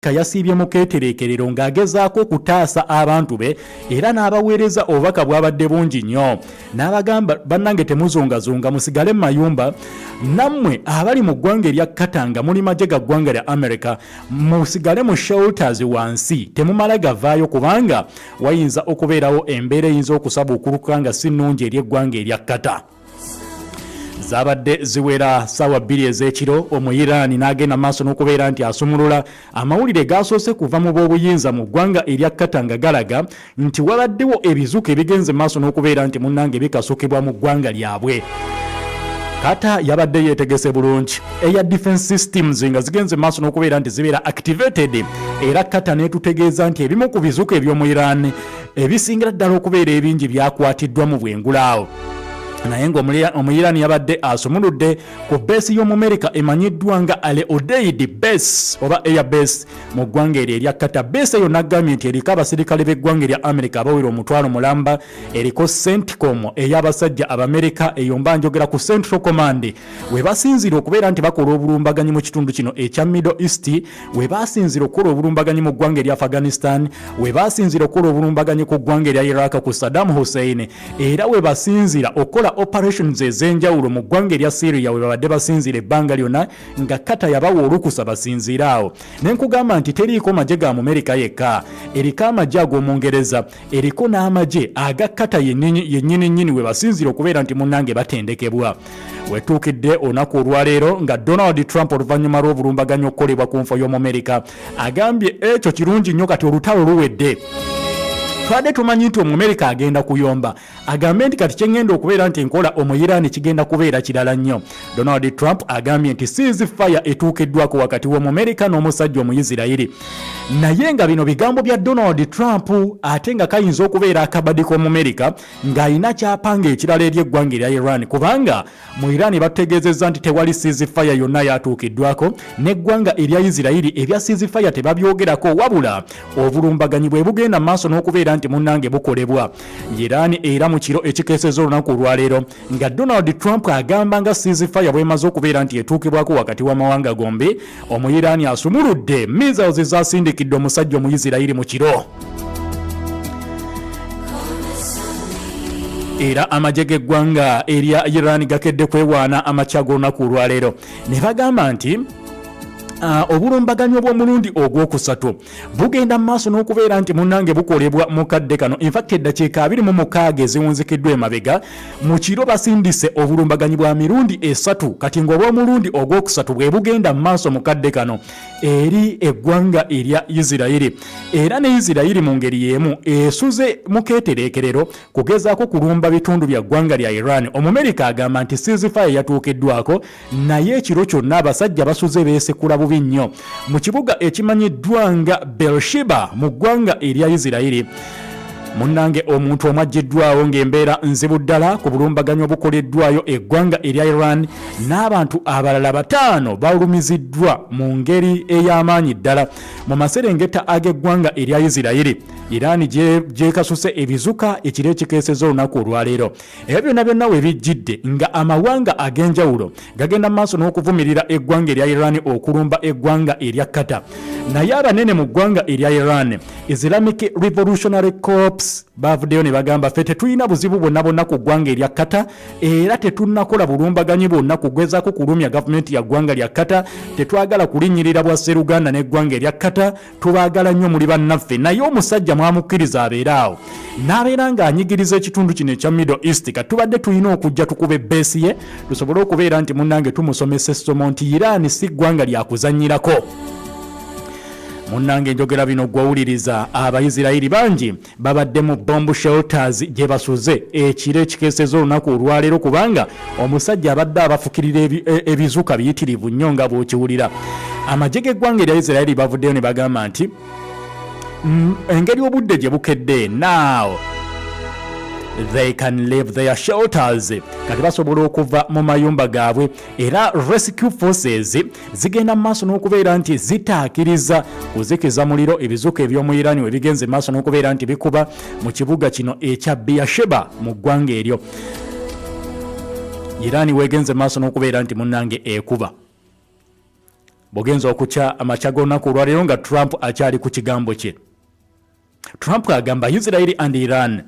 Ka yasiibye mu keetereekerero ng'agezaako okutaasa abantu be era n'abaweereza obubaka bwabadde bungi nnyo n'abagamba bannange temuzungazunga musigale mu mayumba nammwe abali mu ggwanga erya katanga muli magye ga ggwanga lya america musigale mu shelters wansi temumala gavaayo kubanga wayinza okubeerawo embeera eyinza okusabuukuluka nga si nnungi eri eggwanga erya kata zabadde ziwera saawa bbiri ez'ekiro omuyiraani n'agenda maaso n'okubeera nti asumulula amawulire gaasoose kuva mu b'obuyinza mu ggwanga erya kata nga galaga nti wabaddewo ebizuuka ebigenze maaso n'okubeera nti munnange bikasukibwa mu ggwanga lyabwe kata yabadde yetegese bulungi eya defense systems nga zigenze maaso n'okubeera nti zibeera activated era kata netutegeeza nti ebimu ku bizuuka eby'omu iran ebisingira ddala okubeera ebingi byakwatiddwa mu bwengulaawo naye ng'omuyirani yabadde asumuludde ku beesi y'omumerika emanyiddwa nga ale odeidi base oba air base mu ggwanga eryo erya kata beesi eyo nagambye nti eriko abaserikale b'eggwanga erya amerika abawera omutwalo mulamba eriko centcom ey'abasajja abamerika eyo mba njogera ku central command we basinziira okubeera nti bakola obulumbaganyi mu kitundu kino ekya middle east we baasinzira okukola obulumbaganyi mu ggwanga erya afghanistan we baasinzira okukola obulumbaganyi ku ggwanga erya iraq ku saddam hussein era we basinzira okukola operations ez'enjawulo mu ggwanga erya syria we babadde basinzira ebbanga lyonna nga kata yabawa olukusa basinziire awo ne nkugamba nti teriiko magye ga mumerika yekka eriko amagye ag'omungereza eriko n'amagye agakkata yennyininyini we basinziira okubeera nti munnange batendekebwa wetuukidde olunaku olwaleero nga donald trump oluvannyuma lw'obulumbaganyi okukolebwa ku nfa y'omumerika agambye ekyo kirungi nnyo kati olutalo luwedde twadde tumanyi nti omumerika agenda kuyomba agambye nti kati kyengenda okubeera nti enkola omuyiraani kigenda kubeera kirala nnyo donald trump agambye nti siizi fire etuukiddwako wakati w'omumerika n'omusajja omuyisirayiri naye nga bino bigambo bya donald trump ate nga kayinza okubeera akabadi k'omumerika ng'alina kyapanga ekirala eri eggwanga erya iran kubanga Mu Iran bategeezezza nti tewali ceasefire yonna yatuukiddwako n'eggwanga erya Isirayiri ebya ceasefire tebabyogerako wabula obulumbaganyi bwe bugenda maaso n'okubeera nti munnange bukolebwa. Iran era mu kiro ekikeeseza olunaku olwaleero nga Donald Trump agamba nga ceasefire bwemaze okubeera nti etuukibwako wakati w'amawanga gombi omuyiraani asumuludde missiles ezasindikidde omusajja omuyisirayiri mu kiro era amagye g'eggwanga erya iran gakedde kwewaana amakya g'olunaku olwaleero ne bagamba nti uh, obulumbaganyi obw'omulundi ogwokusatu bugenda mu maaso n'okubeera nti munnange bukolebwa mu kadde kano infact eddakiika abiri mu mukaaga eziwunzikiddwa emabega mu kiro basindise obulumbaganyi bwa mirundi esatu kati ng'obw'omulundi ogwokusatu bwe bugenda mu maaso mu kadde kano eri eggwanga erya isirayiri era ne isirayiri mu ngeri y'emu esuze mu keetereekerero kugezaako kulumba bitundu bya ggwanga lya iran omumerika agamba nti sizifayo yatuukiddwako naye ekiro kyonna abasajja basuze beesekula bubi nnyo mu kibuga ekimanyiddwa nga bershiba mu ggwanga erya isirayiri munnange omuntu omu aggyiddwawo ng'embeera nzibu ddala ku bulumbaganyi obukoleddwayo eggwanga erya iran n'abantu abalala bataano balumiziddwa mu ngeri ey'amaanyi ddala mu maserengeta ag'eggwanga erya isirayiri iran gyekasuse ebizuka ekiro ekikeeseza olunaku olwaleero era byonna byonna we bijjidde nga amawanga ag'enjawulo gagenda mu maaso n'okuvumirira eggwanga erya iran okulumba eggwanga erya kata naye abanene mu ggwanga erya iran islamic revolutionary corps bavuddeyo ne bagamba ffe tetulina buzibu bwonna bwonna ku ggwanga erya kata era tetunakola bulumbaganyi bwonna kugezako kulumya gavumenti ya ggwanga lya kata tetwagala kulinnyirira bwa sseruganda n'eggwanga erya kata tubagala nnyo muli bannaffe naye omusajja mwamukkiriza abeere awo n'abeera ng'anyigiriza ekitundu kino ekya middle east ka tubadde tulina okujja tukube beesi ye tusobole okubeera nti munnange tumusomesa essomo nti iraani si ggwanga lyakuzannyirako munnange njogera bino gwawuliriza abaisirayiri bangi babadde mu Bomb Shelters gyebasuze ekiro ekikeeseza olunaku olwaleero kubanga omusajja abadde abafukirira e, ebizuka biyitirivu nnyo nga bwokiwulira amagye g'eggwanga erya Israeli bavuddeyo ne bagamba nti mm, engeri obudde gye bukedde naawo they can leave their shelters kati basobola okuva mu mayumba gaabwe era rescue forces zigenda mu maaso n'okubeera nti zitaakiriza kuzikiza muliro ebizuka eby'omu irani we bigenze mu maaso n'okubeera nti bikuba mu kibuga kino ekya biyasheba mu ggwanga eryo irani wegenze mu maaso n'okubeera nti munnange ekuba bugenza okukya amakya g'olunaku olwaleero nga trump akyali ku kigambo kye trump agamba israeli and iran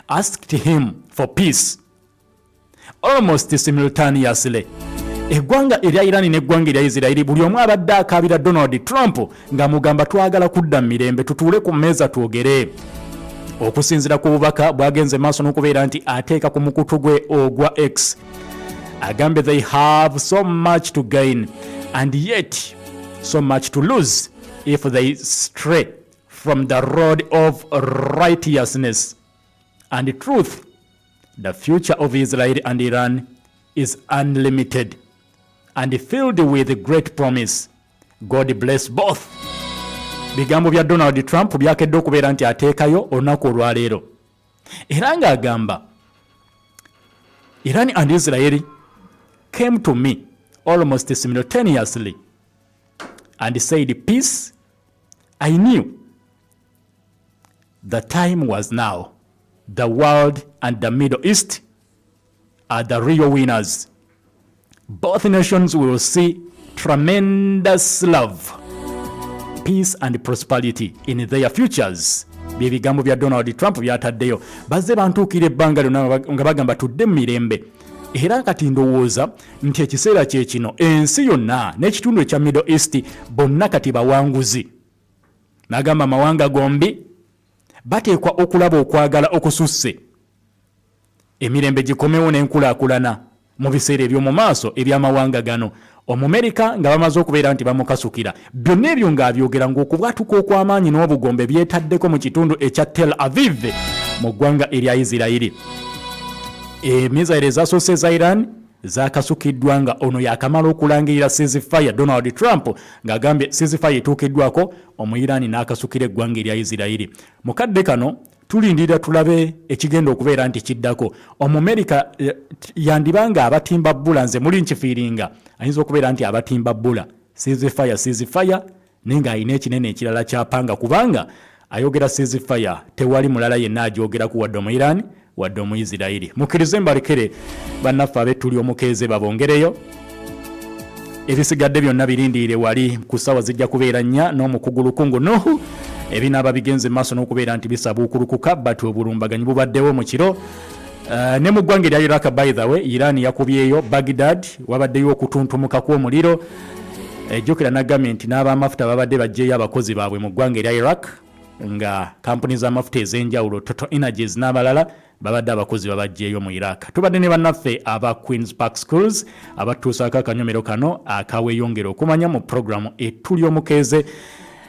asked him for peace almost simultaneously eggwanga erya irani n'eggwanga erya isirairi buli omu abadde akaabira donald trump nga mugamba twagala kudda mu mirembe tutuule ku mmeeza twogere okusinzira ku bubaka bwagenze maaso n'okubeera nti ateeka ku mukutu gwe ogwa x agambye they have so much to gain and yet so much to lose if they stray from the road of righteousness and truth The future of Israel and Iran is unlimited and filled with great promise. God bless both. Bigambo bya Donald Trump byakedde okubeera nti ateekayo olunaku olwaleero era ng'agamba Iran and Israel came to me almost simultaneously and said peace I knew The time was now. The world and the Middle East are the real winners. Both nations will see tremendous love, peace and prosperity in their futures. byebigambo bya donald trump byataddeyo bazze bantuukira ebbanga lyona nga bagamba tudde mu mirembe era kati ndowooza nti ekiseera kyekino ensi yonna n'ekitundu ekya middle east bonna kati bawanguzi N'agamba amawanga gombi bateekwa okulaba okwagala okususse, emirembe gikomewo n'enkulaakulana mu biseera eby'omu maaso eby'amawanga gano. Omumerika nga bamaze okubeera nti bamukasukira, byonna ebyo ng'abyogera ng'okubwatuka okw'amaanyi n'obugombe byetaddeko mu kitundu ekya Tel Aviv mu ggwanga erya Isirayiri. Emizayiro ezasoose eza Iran zakasukiddwa nga ono yakamala okulangirira ceasefire Donald Trump ng'agambye ceasefire etuukiddwako Omuyiraani n'akasukira eggwanga erya Isirayiri. Mu kadde kano tulindirira tulabe ekigenda okubeera nti kiddako. Omumerika eh, yandiba nga abatimba bbula nze muli nkifiiringa ayinza okubeera nti abatimba bbula ceasefire ceasefire naye ng'alina ekinene ekirala ky'apanga kubanga ayogera ceasefire tewali mulala yenna agyogerako wadde omuirani wadde omuisirairi mukkirize mbalekere bannaffe abettuli omukeeze babongereyo ebisigadde byonna birindiire wali ku ssaawa zijja kubeera nnya n'omukugu lukungu nuhu ebinaaba bigenze maaso n'okubeera nti bisabuukulukuka bat obulumbaganyi bubaddewo mu kiro Uh, ne mu ggwanga erya iraq by the way iran yakubyeyo bagdad wabaddeyo okutuntumuka kw'omuliro uh, ejjukira nagambye nti n'abamafuta babadde baggyeyo abakozi baabwe mu ggwanga erya iraq nga kampuni z'amafuta ez'enjawulo total energies n'abalala babadde abakozi babajjeeyo mu iraq tubadde ne bannaffe aba queens park schools abatuusaako akanyomero kano akaweyongera okumanya mu puroguramu etuli omukeeze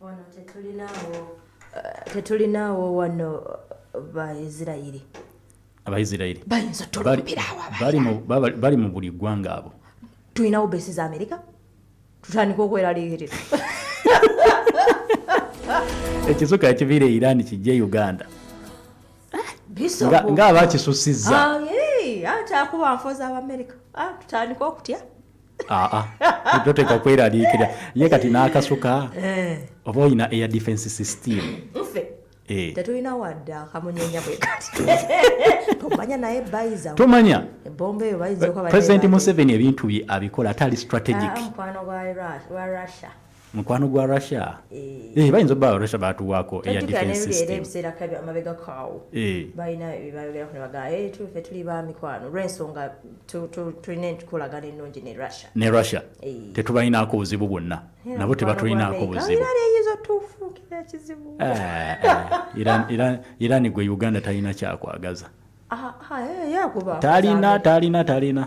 wano tetulinaawo eh, tetulinaawo wano eh, baisirairi abaisirairi bayinza otulumbireawo bali mu buli ggwanga abo tulinawo besi za amerika tutandika okweraliikirira ekisuka ekiviira e iran kijja e uganda nga abakisusiza ah, atakuba nfoza abamerika ah, tutandika okutya aa toteekwa kweraliikira ye kati n'akasuka eh. oba olina air defense system eh. tetulina wadde akamunyenya bwekatomanya naye bayiza tomanya ebomba eyo bayiza president museveni ebintu bye abikola ate ali strategic ah, mukwano wa russia mukwano gwa russia eh. Eh, bayinza oba russia batuwaako eya defensestemamabegakaawo eh. balina byebayogeraffe tuli ba mikwano lwensonga tulina entukolagana ennungi ne russia ne russia tetubalinaako buzibu bwonna nabo tebatulinaako buzibu irani gwe uganda talina kyakwagaza ah, ah, talina talina talina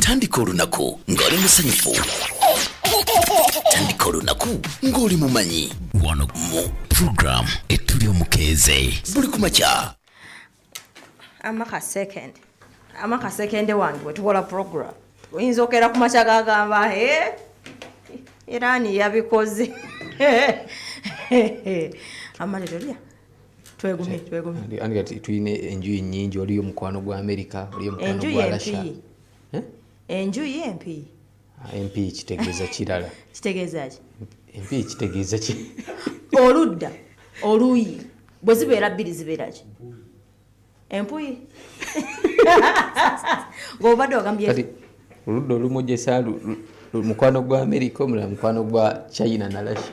tandika olunaku ng'oli musanyufu tandika olunaku ng'oli mumanyi wano mu program etuli omukeeze buli ku makya amaka second amaka second wange wetukola program oyinza okera ku makya gagamba e irani yabikoze amalero lya twegumyetwegumyeandigati tulina enjuyi nyingi waliyo omukwano gwa amerika waliyo omukwano gwa rasha eh? enjuyi empiyi ah, empiyi kitegeeza kirala kitegeezaki empiyi kitegeeza ki oludda oluyi bwe zibeera bbiri zibeeraki empuyi ngaobadde ogambye oludda olumujesa mukwano gwa amerika omulala mukwano gwa china na russia